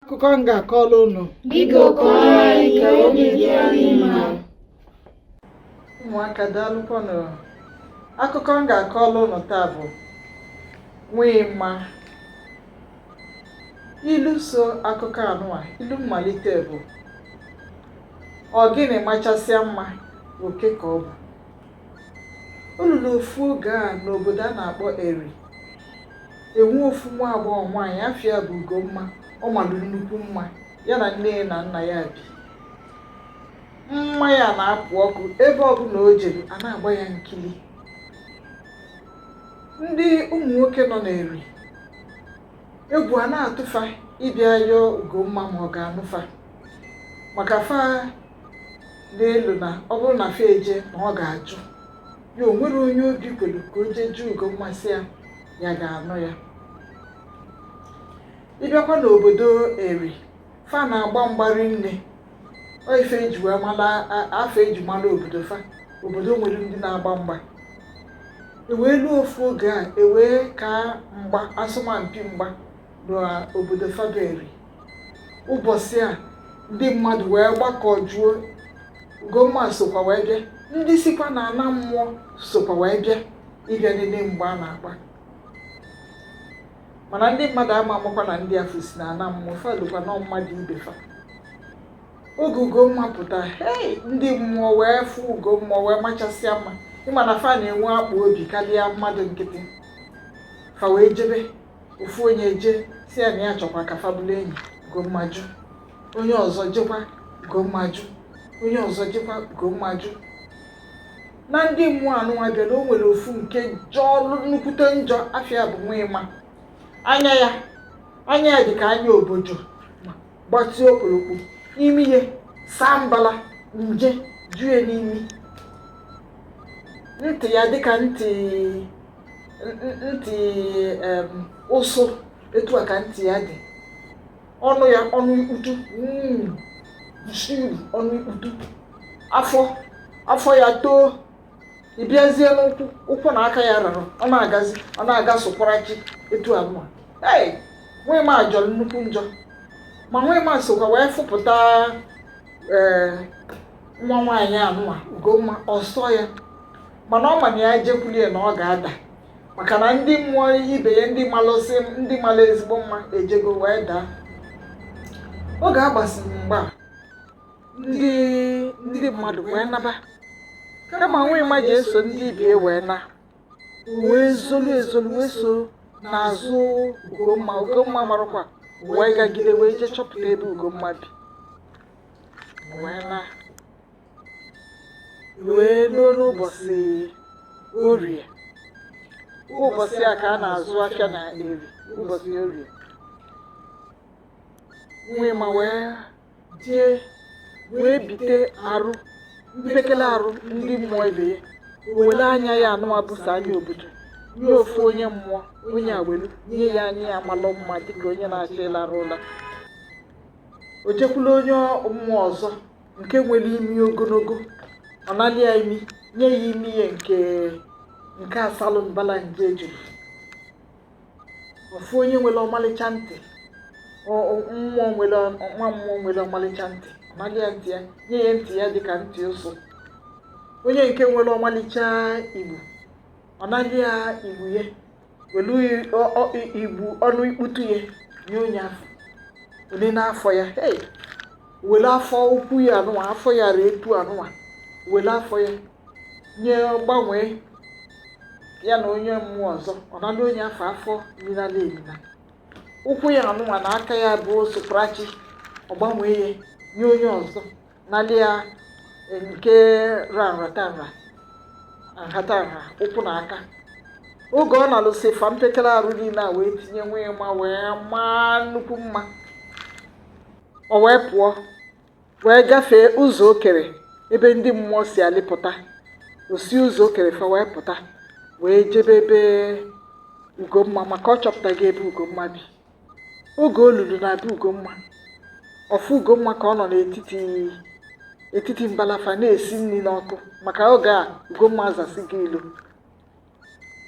akụkọ m ga-akọrọ unu Biko kọọrọ anyị ka obi dị anyị mma. ụmụaka daalụkwanụ akụkọ m ga-akọrọ unu taa bụ Nwịma ilu so akụkọ anụwa ilu mmalite bụ ogini machasịa mma oke ka ọ bụ O luru ofu oge a n'obodo a na-akpọ Eri, e nwee ofu nwa agbọghọ nwaanyị afa ya bụ Ugomma ọ malụ nnukwu mma, ya na nne ya na nna ya bi. Mma ya na-apụ ọkụ ebe ọbụla o jere a na-agba ya nkili. Ndị ụmụ nwoke nọ n'Eri, egwu a na-atụ fa ịbịa yọọ Ugomma ma ọ ga-anụ fa maka fa na-elo na ọ bụrụ na fa eje na ọ ga-ajụ ya o nwerọ onye obi kwelu ka o jee jụọ Ugomma sị ya ya ga-anụ ya ịbịakwa n'obodo eri fa na-agba mgba rinne ọ ife eji wee mala a- ife eji mala obodo fa obodo nwere ndị na-agba mgba ewee luo ofu oge a ewee ka mgba asọmpi mgba n'obodo fa bụ Eri ụbọchị a ndị mmadụ wee gbakọjuo Ugomma sokwa wee bịa ndị sikwa na ana mmụọ sokwa wee bịa ịbịa nene mgba a na-agba mana ndị mmadụ ama amakwa na ndị afụ si na ana mmụọ fa elokwa na ọ mmadụ ibe fa oge Ugomma pụta hei ndị mmụọ wee fụ Ugomma wee machasịa mma ị ma na fa na-enwe akpa obi karịa mmadụ nkịtị fa wee jebe ofu onye ejee sị ya na ya chọkwa ka fa bụlụ enyi Ugomma jụ onye ọzọ jekwa Ugomma jụ onye ọzọ jekwa Ugomma jụ na ndị mmụọ anụnwa bịara o nwere ofu nke jọlụ nnukwute njọ afa ya bụ Nwịma anya ya anya ya dị ka anya obodo gbatịa okpolokpo imi ya saa mbala nje jue n'imi ntị ya dịka ntị ntị ụsụ etu a ka ntị ya dị ọnụ ya ọnụ ikputu hmm, ọnụ ikputu afọ afọ ya too ị bịazie n'ụkwụ ụkwụ na aka ya rarụ ọ na-agazi ọ na-aga sụkwarachi etu anụwa ee Nwịma jọrọ nnukwu njọ ma Nwịma sokwa wee fụpụta ee eh, nwa nwaanyị anụwa Ugomma ọ sọ ya mana ọ ma na ya jekwulie na ọ ga-ada maka na ndị mmụọ ibe ya ndị malụsị ndị malụ ezigbo mma ejego wee daa oge a gbasịrị mgba ndị ndị mmadụ wee naba kama nwa ịma ji eso ndị ibie wee na wee zolu ezolu wee so n'azụ ugomma ugomma amarọkwa wee gagide wee jee chọpụta ebe ugomma bi wee na wee ruo n'ụbọsị orie ụbọsị a ka a na-azụ afịa na eri ụbọsị orie nwa ịma wee jee wee bite arụ mpekele arụ ndị mmụọ ibe ya were anya ya anụwa bụ sọ anya obodo nye ofu onye mmụọ onye a welu nye ya anya ya malụ mma dịka onye na-achọ ịlarụ ụla o jekwula onye mmụọ ọzọ nke nwere imi ogologo ọ nalị ya imi nye ya imi ya nke nke asalụ mbala nje ejuru ofu onye nwere ọmalịcha ntị ọ- ọ- mmụọ nwere ọ- nwa mmụọ nwere ọmalịcha ntị ọ nalị ya ntị ya nye ya ntị ya dịka ntị ụsụ onye nke nwere ọmalịcha igbu ọ nalị ya igbu ya welu ọ- ọ- i- igbu ọnụ ikputu ya nye onye afọ onye n'afọ ya hey were afọ ukwu ya anụwa afọ ya ree etu anụwa were afọ ya nye gbanwee ya na onye mmụọ ọzọ ọ nala onye afọ afọ minala emina ụkwụ ya anụwa na aka ya bụ soprachi ọ gbanwee ya nye onye ọzọ Nalị ya eh, nke ra nhatanha nhatanha ụkwụ na aka oge ọ nalụsị fa mpekere arụ niile a wee tinye nwa ịma wee maa nnukwu mma o wee pụọ wee gafee ụzọ okere ebe ndị mmụọ si alịpụta o si ụzọ okere fa wee pụta wee jebe ebe ugomma maka ọ chọpụtago ebe ugomma bi oge o lulu na be Ugomma ọ fụ Ugomma ka ọ nọ n'etiti etiti mbala fa na-esi nri n'ọkụ maka oge a Ugomma azasịgo ilo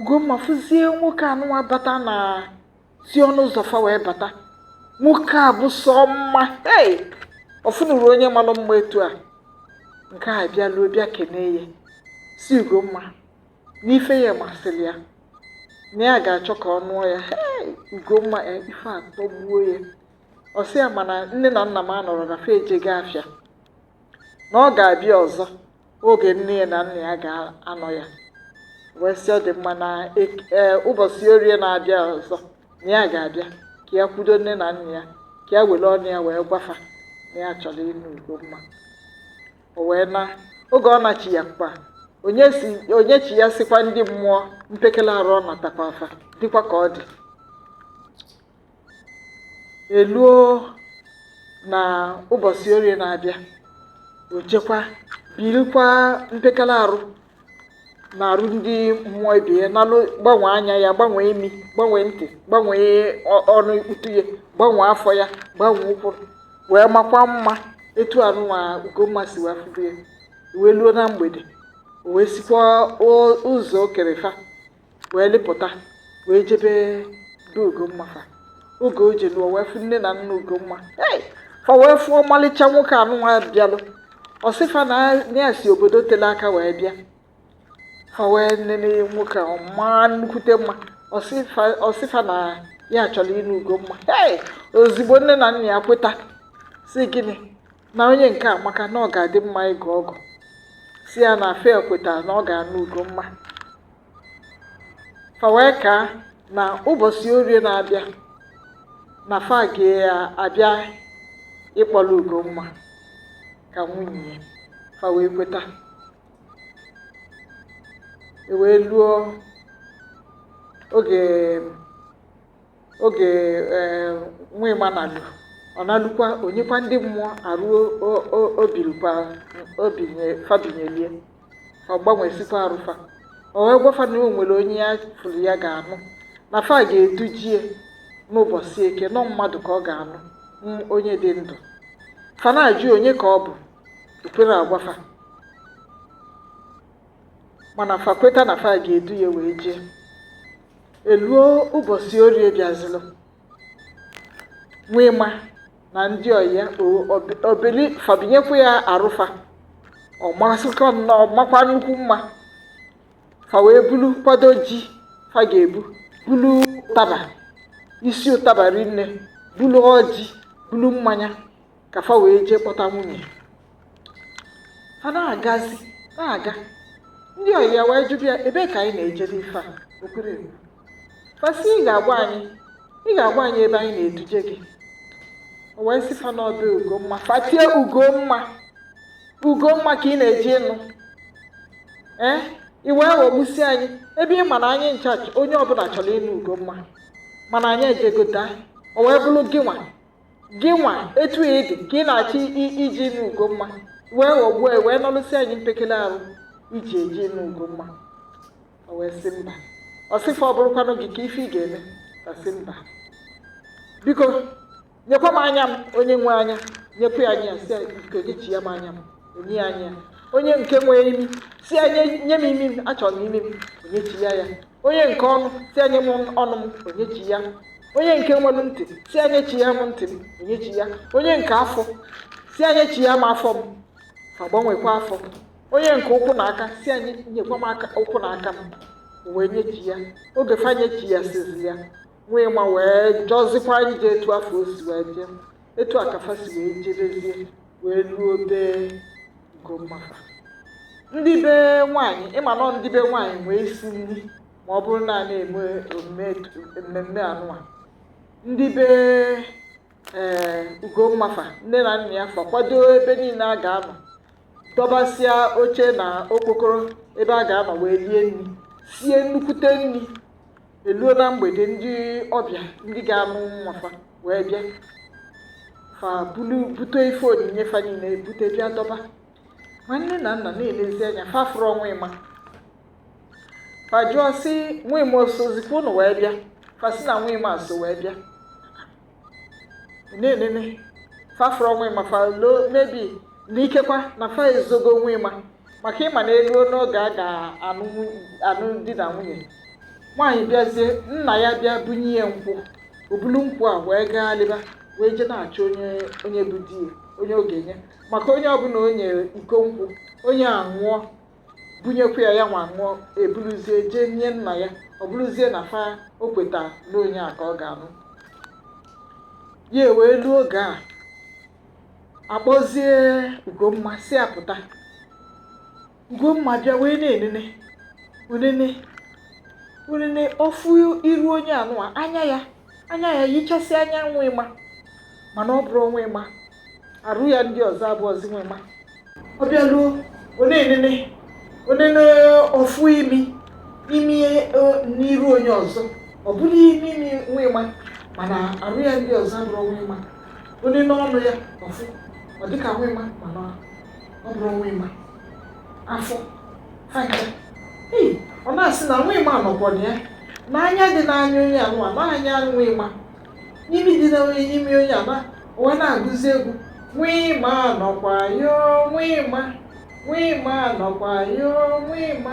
Ugomma fụzie nwoke anụwa bata na si ọnụ ụzọ fa wee bata nwoke a bụ sọ mma hey! ọ fụnụrọ onye malụ mma etu a nke a bịaluo bịa kenee ya sị Ugomma na ife ya masịlị ya na ya ga-achọ ka ọ nụọ ya Ugomma e, ife atọgbuo ya ọ sị ya mana nne na nna m anọrọ na fa ejego afịa na ọ ga-abịa ọzọ oge nne ya na nna ya ga-anọ ya wee sị ọ dị mma na e, e, ụbọsị orie na-abịa ọzọ na ya ga-abịa ka ya kwudo nne na nna ya ka ya were ọnụ ya wee gwa fa na ya chọrọ ịnụ Ugomma o wee naa oge ọ nachiyakwa o nyesi o nyechiyasikwa ndị mmụọ mpekele arụ ọ natakwaa fa dịkwa ka ọ dị eluo na ụbọchị orie na-abịa o jekwa birikwa mpekele arụ na arụ ndị mmụọ ibe ya nalụ gbanwee anya ya gbanwee imi gbanwee ntị gbanwee ọ- ọnụ ikputu ya gbanwee afọ ya gbanwee ụkwụ wee makwa mma etu anụnwa ugomma si wee fụbu ya wee luo na mgbede o wee sikwa o- ụzọ o kere fa wee lịpụta wee jebe be Ugomma fa oge o jelu o wee fụ nne na nna Ugomma hey! fa wee fụ ọmalịcha nwoke anụnwa bịalụ ọ sị fa na ya si obodo tele aka wee bịa fa wee nene nwoke a ọ maa nnukwute mma ọ sị fa na ya chọlụ ịnụ Ugomma hey! ozigbo nne na nna ya kweta sị gịnị na onye nke a amaka na ọ ga-adị mma ịgọ ọgọ sị ya na fa ekweta na ọ ga-anụ Ugomma fa wee kaa na ụbọchị orie na-abịa na fa ga-abịa ịkpọlụ Ugomma ka nwunye ya fa wee kweta e wee luo oge oge eh, Nwịma nalụ ọ nalụkwa o nyekwa ndị mmụọ arụ o- o- o bilukwa o binye fa binyelu ya ọ gbanwesikwa arụ fa o wee gwa fa na o nwere onye ya fụlụ ya ga-anụ na fa ga-eduje ya n'ụbọchị eke na ọ mmadụ ka ọ ga-anụ mm, onye dị ndụ fa na-ajụ onye ka ọ bụ o kwere agwa fa mana fa kweta na fa ga-edu ya wee jee eluo ụbọchị orie bịazịlụ Nwịma na ndị ọyị ya o bili fa binyekwa ya arụ fa ọ masịkwa nnọọ makwa nnukwu mma fa wee bulu kwado ji fa ga-ebu bulu ụtaba isi ụtaba rinne bulu ọjị bulu mmanya ka fa wee jee kpọta nwunye fa na-agazi na-aga ndị ọyị ya wee jụbịa ebe ka anyị na-ejere ife a o kwere fa sị ị ga-agwa anyị ị ga-agwa anyị ebe anyị na-eduje gị o wee sị fa na ọ be ugomma fa tie ugomma ugomma ka ị na-eje ịnụ ee eh? ị wee ghọgbusi anyị ebe ị ma na anyị ncha onye ọbụna chọlụ ịnụ ugomma mana anyị ejegota o wee bụlụ gị nwa gị nwa etu ị dị ka ị na-achọ ije ịnụ Ugomma wee ghọgbuo ya wee nọlụsị anyị mpekele arụ i ji eje ịnụ Ugomma o wee sị mba ọ sị fa ọ bụrụkwanụ gị kee ife ị ga-eme ọ sị mba biko nyekwa m anya m onye nwe anya nyekwa ya anya sị biko nyechiya m anya m o nye ya anya onye nke nwe imi sị ya nye m imi m achọrọ m imi m o nyechiya ya onye nke ọnụ sị ya nye m ọnụ m o nyechiya onye nke nwere ntị sị ya nyechiya m ntị m o nyechiya onye nke afọ sị ya nyechiya m afọ m fa gbanwekwa afọ onye nke ụkwụ na aka sị ya nyekwa m aka ụkwụ na aka m wee nyechiya oge fa nyechiyasịzị ya Nwịma wee jọzikwa njọ etu afụ o si wee jọ etu a ka fa si wee jebezie wee luo be Ugomma fa ndị be nwaanyị ị ma na ọ ndị be nwaanyị nwe isi nri ma ọ bụrụ na a na-eme omume etu- mmemme anụwa ndị be ee Ugomma fa nne na nna ya fa kwado ebe niile a ga-anọ dọbasịa oche na okpokoro ebe a ga-anọ wee rie nri sie nnukwute nri eluo na mgbede ndị ọbịa ndị ga-anụ nwa fa wee bịa fa bulu bute ife onyinye fa niile bute bịa dọba ma nne na nna na-elezi anya fa afụrọ Nwịma fa jụọ sị Nwịma o sozikwa unu wee bịa fa sị na Nwịma so wee bịa na-enene fa afụrọ Nwịma fa loo maybe na ikekwa na fa ezogo Nwịma maka ị ma na eluo n'oge a ga-anụ di na nwunye nwaanyị bịazie nna ya bịa bunye ya nkwụ o bulu nkwụ a wee gaghalịba wee jee na-achọ onye onye bụ di ya onye ọ ga-enye maka onye ọbụla o nyere iko nkwụ onye a ṅụọ bunyekwa ya ya nwa ṅụọ eburuzie jee nye nna ya ọ bụrụzie na fa o kweta na onye a ka ọ ga-anụ ya e wee luo oge a akpọzie ugomma sị ya pụta ugomma bịa wee na-enene o nene o nene ọ fụ iru onye anụwa anya ya anya ya yichasị anya Nwịma mana ọ bụrọ Nwịma arụ ya ndị ọzọ abụrọzi Nwịma ọ bịa luo o nene o nene ọ fụ imi imi e, n'iru onye ọzọ ọ bụrụ imi imi Nwịma mana arụ ya ndị ọzọ abụrọ Nwịma o nene ọnụ ya ọ fụ ọ dịka Nwịma mana ọ bụrọ Nwịma afọ aka ọ na-asị na Nwịma nọkwa na ya na anya dị n'anya onye anụwa na anya Nwịma na imi dị na onye n'imi onye anụwa o wee na-agụzi egwu Nwịma nọkwa yo Nwịma Nwịma nọkwa yo Nwịma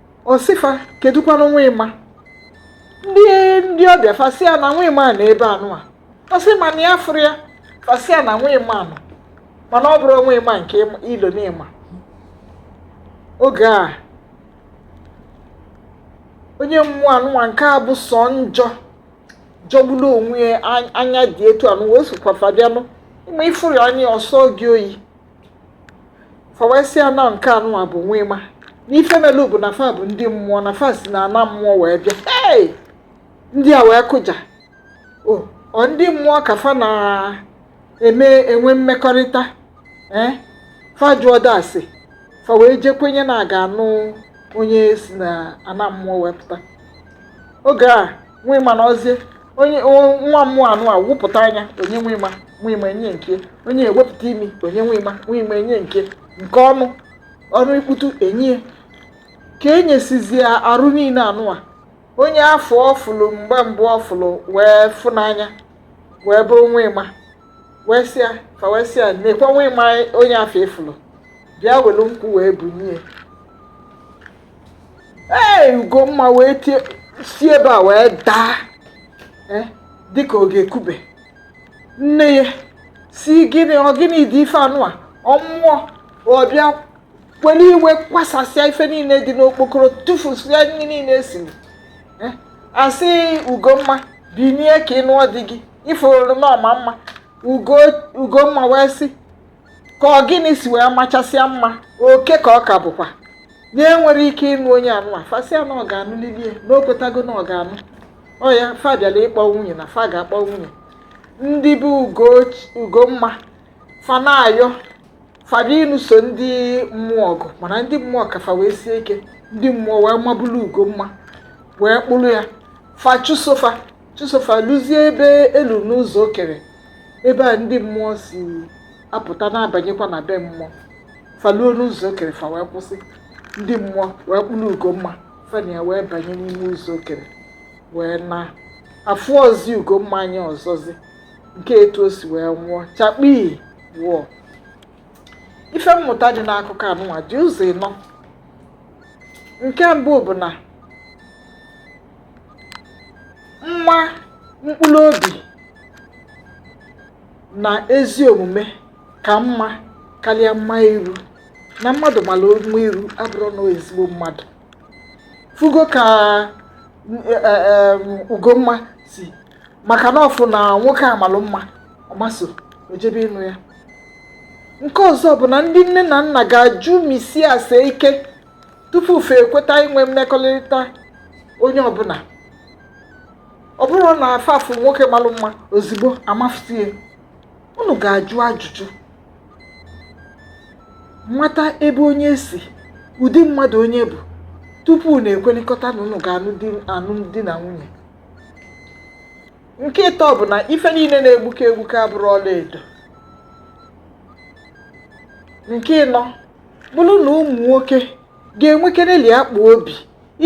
ọ sị fa kedụkwanụ nwa ịma ndị ndị ọbịa fa sị a na nwa ịma nọ ebe anụwa ọ sị mana ya afụrọ ya fa sị a na nwa ịma nọ mana ọ bụrọ nwa ịma nke ị ma- i lo na ị ma oge a onye mmụọ anụnwa nke a bụ sọ njọ jọgburu onwe ya an- anya dị etu anụwa o sokwa fa bịanụ ịma ị fụrụ ya anya ọ sọọ gị oyi fa wee sị a na nke anụnwa bụ nwa ịma na ife melu bụ na fa bụ ndị mmụọ na fa si na ana mmụọ wee bịa hey! ndị a wee kụja o ọ ndị mmụọ ka fa na-eme enwe mmekọrịta ee fa ajụọdị ase fa wee jee kwenye na a ga-anụ onye si na ana mmụọ wee pụta oge a nwa ịma nọzie onye nwa mmụọ anụwa wepụta anya o nye nwa ịma nwa ịma enye nke onye ewepụta imi o nye nwa ịma nwa ịma enye nke nke ọnụ ọnụ ikputu enye ka e nyesịzie arụ niile anụwa onye afụ ọ fụlụ mgbe mbụ ọ fụlụ wee fụ n'anya wee bụrụ nwa ịma wee sị a fa wee sị a nekwa nwa ịma onye afụ ị fụlụ bịa welu nkwụ wee bunye ee ugomma wee tie si ebe a wee daa eh, dịka ọ ga-ekube nne ya sị gịnị ọ gịnị dị ife anụwa ọ mmụọ ọ bịa were iwe kwasasịa ife niile dị n'okpokoro tụfusịa nri niile e siri eh, a sị ugomma binie ka ị nụọ di gị ị fụrụ na ọ ma mma ugomma wee sị ka ọ gịnị si wee machasịa mma oke ka ọ ka bụkwa na ya enwerọ ike ịnụ onye anụwa fa sị a na ọ ga-anụlili e na o kwetago na ọ ga-anụ ọ ya fa bịara ịkpọ nwunye na fa ga-akpọ nwunye ndị be Ugoch- ugomma fa na-ayọ fa bịa nụso ndị mmụọ ọgụ mana ndị mmụọ ka fa wee sie ike ndị mmụọ wee mabulu ugomma wee kpụrụ ya fa chụso fa chụso fa luzie ebe e lu n'ụzọ okere ebe a ndị mmụọ si apụta na-abanyekwa na be mmụọ fa luo n'ụzọ okere fa wee kwụsị ndị mmụọ wee kpụrụ ugomma fa na ya wee banye n'ime ụzọ okere wee naa afụọzi ugomma anya ọzọzi nke etu o si wee nwụọ chakpii wọọ ife mmụta dị n'akụkọ anụnwa dị ụzọ ịnọ nke mbụ bụ na mma mkpụrụ obi na ezi omume ka mma karịa mma iru na mmadụ mara mma iru abụrọ na ọ ezigbo mmadụ fụgo ka e, e, e, ugomma si maka na ọ fụ na nwoke a malụ mma ọ maa ọsọ jebe ịnụ ya nke ọzọ bụ na ndị nne na nna ga-ajụmisi ase ike tupu fa ekweta inwe mmekọrịta onye ọbụla ọ bụrụ na fa afụ nwoke malụ mma ozigbo amafutie unu ga-ajụ ajụjụ mata ebe onye si ụdị mmadụ onye bụ tupu unu ekwelikọta na unu ga-anụ di na nwunye nke ịtọ bụ na ife niile na-egbuke egbuke abụrọ ọla edo nke ịnọ bụrụ na ụmụ nwoke ga-enwekereli akpa obi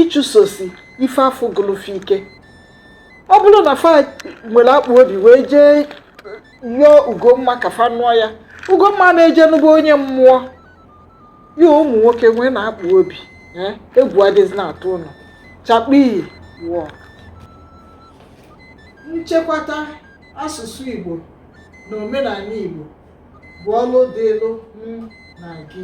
ịchụsosi ife afụ gụlụ fa ike ọ bụrụ na fa nwere akpa obi wee jee yọọ ugomma ka fa nụọ ya ugomma na-eje nụba onye mmụọ ya ụmụ nwoke nweenụ akpa obi eh, egwu adịzina atụ ụnụ chakpii wọọ nchekwata Asụsụ Igbo na omenala Igbo bụ ọlụ dịlụ m na gị.